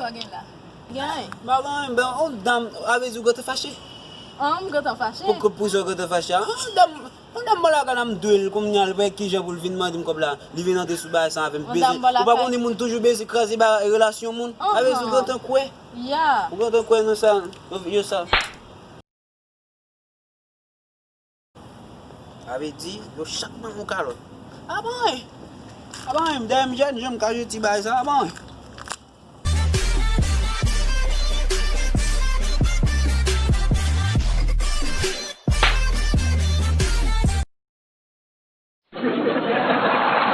Sa w gen la? Gen anyen? Ba w anyen ba w. Yon dam, a vle di w gentan fache? An, m gentan fache. Pou k, pou sa w gentan fache a? Yon dam, yon dam bò lakay la m dwe l kounya a, l pa gen kijan pou l vin mande m kòb la. Li vin antre sou bagay sa avè m. Yon dam bò lakay. Ou pa konnen moun toujou bese kraze bagay, relasyon moun. Anhan. A vle di w gentan kwè? Ya. Ou gentan kwè nan sa, yo sa. Sa vle di, yo chak nan yon kalòt. A bon e! A bon e! M dèyè m jèn jan m ka jwe ti baay sa a bon e!